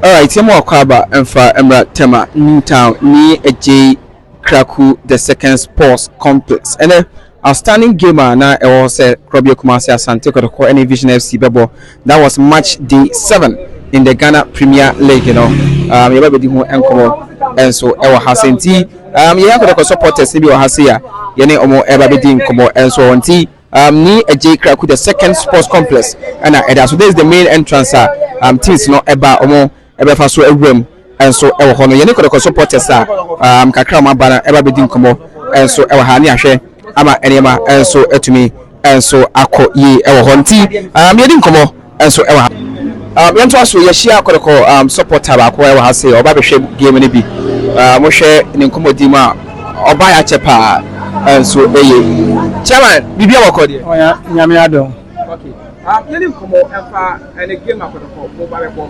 Alright, yɛma wakɔ aba mfa mmra Tema New Town ne Agyei Kraku The Second Sports Complex. Ɛnɛ, outstanding game a na ɛwɔ hɔ sɛ Korɔbea Kumasi Asante Kɔtɔkɔ ne Vision FC bɛbɔ, that was match day seven in the Ghana Premier League no, um, yɛba bɛdi ho nkɔmmɔ nso ɛwɔ ha sɛ nti, um, yɛyɛ Kɔtɔkɔ supporters ne bi wɔ ha sɛ a yɛne ɔmo ɛba bɛdi nkɔmmɔ nso nti, Um, ni ɛgye kraku the second sports complex ɛna ɛda so this is the main entrance a um, teams no ɛba wɔn ɛbɛfa so awura mu ɛnso ɛwɔ hɔ no yɛne kɔdɔkɔ supporters a um, kakra wɔn aba no ɛba bɛdi nkɔmɔ ɛnso ɛwɔ ha ne ahwɛ ama nneɛma ɛnso atumi ɛnso akɔ yie ɛwɔ hɔ nti um, yɛdi nkɔmɔ nso wɔ ha. Um, yɛntoa so. Yɛahyia kɔdɔkɔ um, supporter baako wɔ ha sɛ ɔba bɛhwɛ game no bi. Uh, mohwɛ ne nkɔmmɔdi mu a, ɔbaeɛ akyɛ paa nso eye. Chairman, biribi a wɔkɔ deɛ? Ɔya, nyame adom. Okay. Um, yɛne nkɔmmɔ ɛmfa ɛne game akɔdɔkɔ mo ba bɛbɔ.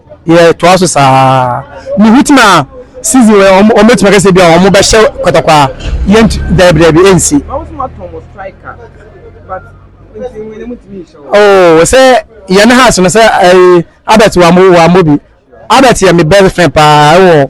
yɛ toa so saa ne ho tim a season wɛ wɔn wɔn bɛtumi akɛse bi a wɔn bɛhyɛ kɔtɔkɔ a yɛn dɛbi dɛbi ɛnsi. oo sɛ yɛn ne house no sɛ ɛɛ albert wa mo wa mo bi albert yɛ me best friend paa ɛwɔ.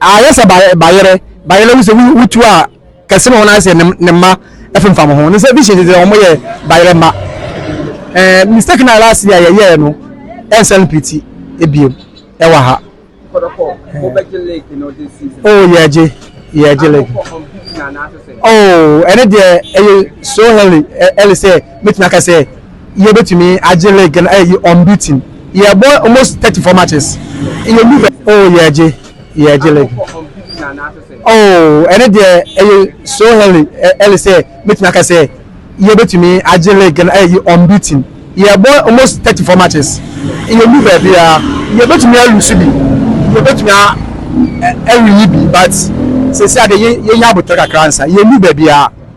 Ayɛ sɛ bayerɛ bayerɛ no sɛ wo tu a kɛse ma wɔn ayɛ sɛ ne mma ɛfemfam ho ne sɛ vision de wɔn yɛ bayerɛ mma ɛɛ mistake na last year yɛ yɛɛ no ɛnsɛ no piti ebiem ɛwɔ ha oh yɛgye yɛgye lake oh ɛne deɛ ɛyɛ so early early sɛ mɛtumi aka sɛ yɛbɛtumi agye league no ayɛ unbeaten yɛbɔ almost thirty four matches yɛndu bɛ. Oh yɛgye yɛgye league oh ɛne deɛ ɛyɛ so early early sɛ mɛtumi aka sɛ yɛbɛtumi agye league no ayɛ unbeaten yɛbɔ almost thirty four matches yɛndu baabi a yɛbɛtumi alusu bi yɛbɛtumi awiyi bi but sɛsi adeɛ yɛnya abotire kakra nsa yɛndu baabi a.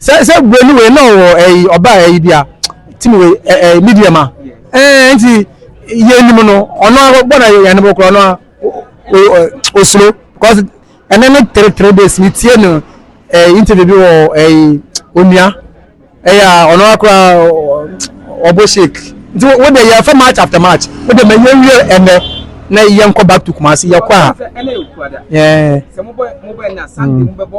sɛ sɛ buroni wei na ɔwɔ ɛyi ɔbaa ɛyi bi a tim wei ɛ ɛ medium a ɛɛ nti yɛ anim no ɔno ara bɔ na yɛ yɛn no korɔ ɔno ara o ɛ osuro because ɛnɛ ne three three days mi tie no ɛɛ interview bi wɔ ɛyi onua ɛyɛ a ɔno ara koraa ɔ- ɔ- ɔbɔ shake nti wo de yɛ fɛ match after match wo de ma yɛ wie ɛnɛ na yɛn kɔ back to kumasi yɛ kɔ a ɛɛ. sɛ mobɔ mobɔ ɛna sunday mobɛbɔ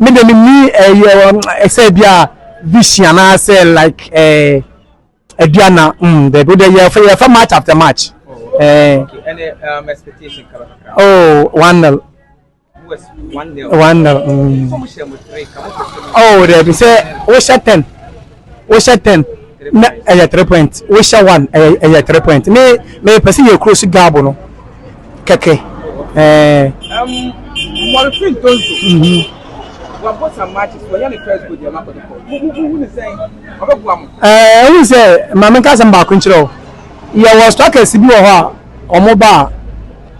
Me de me ni ɛyɛ ɛsɛ eh, bi a vision anaasɛ like ɛɛ ɛdua na mm dɛbi o de yɛ fɛ yɛ fɛ match after match. ɛɛ ɛnɛ um, expectation kala kala. oh one nil. one nil. one nil. Mm. oh dɛbi sɛ o hyɛ ten. wohyɛ ten na ɛyɛ three point wohyɛ one ɛyɛ ɛyɛ three point me me pɛ sɛ yɛ kuro si gaabo no kɛkɛ ɛɛ. mmɔrefin tonso. Mhm. wabɔ some matches wɔyɛ ne first goal deɛ makɔ ne kɔ mo mo mo hu ne sɛn ɔbɛboa mo. ɛɛ ehu sɛ maame nka asɛm baako nkyerɛ o yɛwɔ strikers bi wɔ hɔ a wɔn ba a.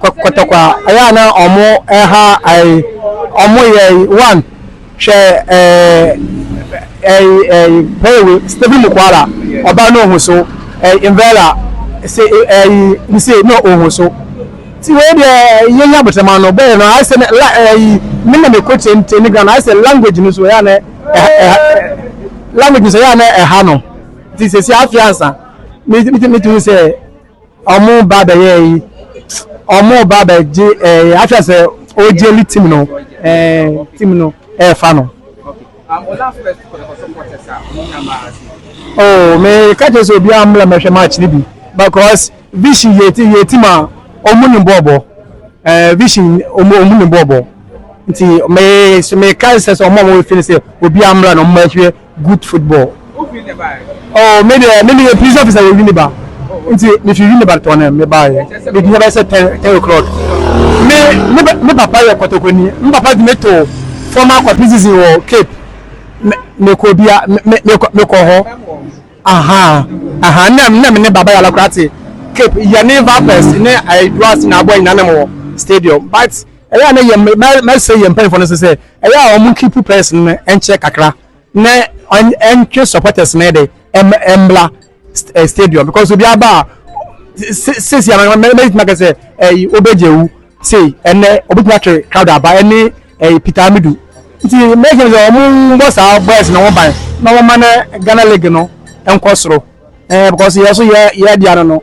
kɔtɔkwa ɛyɛ a na ɔmo ɛha ɛyi ɔmo yɛ ɛyi one hwɛ ɛɛ ɛyi ɛyi pɛɛwi stebi mu kwara ɔba na ohun so ɛyi invɛla se ɛyi nse na ohun so ti wei deɛ yɛn yɛ abotɛma no bɛyɛ no ayɛ sɛ la ɛyi ne na ne ko kyɛn kyɛn ne ghana ayɛ sɛ language no so ɛyɛ a na ɛha ɛha language no so ɛyɛ a na ɛha no ti sɛ si afi ansa mi mi ti mi ti sɛ. Ɔmo ba bɛ yɛ yi. Ɔmo ba bɛ gye ɛɛ akyɛ sɛ o gye li tim no ɛɛ tim no ɛɛ fa no. Oh me ka kyɛ sɛ obi a mla mɛ hwɛ match ni bi because vision yɛ ti yɛ tim a ɔmo ni bɔ bɔ ɛɛ vision ɔmo ɔmo ni bɔ bɔ nti me me ka sɛ sɛ ɔmo ɔmo feel sɛ obi a mla no ɔmo ɛhwɛ good football. Oh me deɛ me deɛ police officer wɔ Winneba nti me fi Winneba tɔnam me ba yɛ me di yɛ sɛ ten ten o'clock me me me papa yɛ kɔtɔkɔni me papa di me to former kɔ prison wɔ Cape me me kɔ bia me me me kɔ me kɔ hɔ aha aha nna nna me ne baba yɛ alakora te Cape yɛ ne vipers ne ɛduasi na abɔ nyina nam wɔ stadium but. Ɛyɛ a na yɛn mɛsɛ yɛn mpanyinfoɔ no sɛ sɛ ɛyɛ a wɔn keep players no nkyɛ kakra na ɛntwe supporters no de ɛmbla eh, stadium because obi aba a sisi a mɛtumi aka sɛ ɛyi obegye ewu sei ɛnɛ obetumi atwe crowd aba ɛne ɛyi peter amidu nti mɛkɛ sɛ wɔn bɔ saa boys na wɔn ban na wɔn ma no ghana league no nkɔ soro ɛɛ eh, because yɛ so yɛ yɛ di ano no.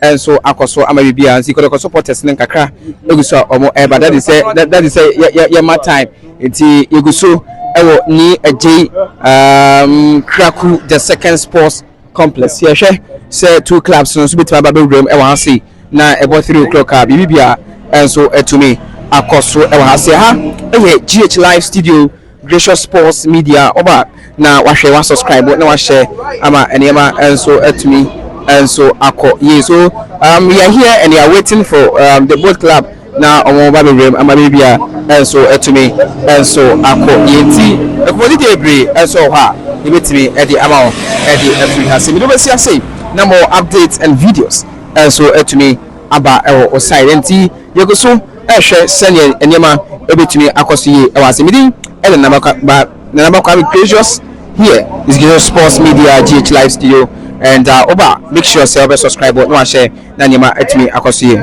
nso akɔ so ama biribiara nti kɔdɔkɔ so protest no nkakra egu so a wɔn ɛreba dadi sɛ dadi sɛ yɛ yɛ ma time nti yegu so ɛwɔ ni ɛgye um, kraku the second sports complex yɛhwɛ sɛ two clubs no nso betumi aba bɛwura mu ɛwɔ ha sei na ɛbɔ three o'clock a biribi biara nso ɛtumi akɔ so ɛwɔ ha sei ha ɛyɛ gh live studio. Gracious Sports Media ɔba na wahwɛ wa subscribe na wahyɛ ama nneɛma nso atumi nso akɔ yie so um, we are here and we are waiting for um, the boat club na wɔn ba bebrem ama biribi a nso atumi nso akɔ yie nti nkɔmɔdi deɛ bebree nso wɔ hɔ a yɛbɛtumi ɛde ama wɔn ɛde afiri ha se mede wobɛsi ase na more updates and videos nso atumi aba ɛwɔ o side nti Yɛgu so rehwɛ sɛdeɛ nneɛma bɛtumi akɔ so yie wɔ ase. Me din ne Nana Kwame, Nana Ba Kwame Precious here is Gizzo Sports Media GH Live Studio and uh, woba make sure sɛ wobɛ subscribe na wahyɛ na nneɛma atumi akɔ so yie.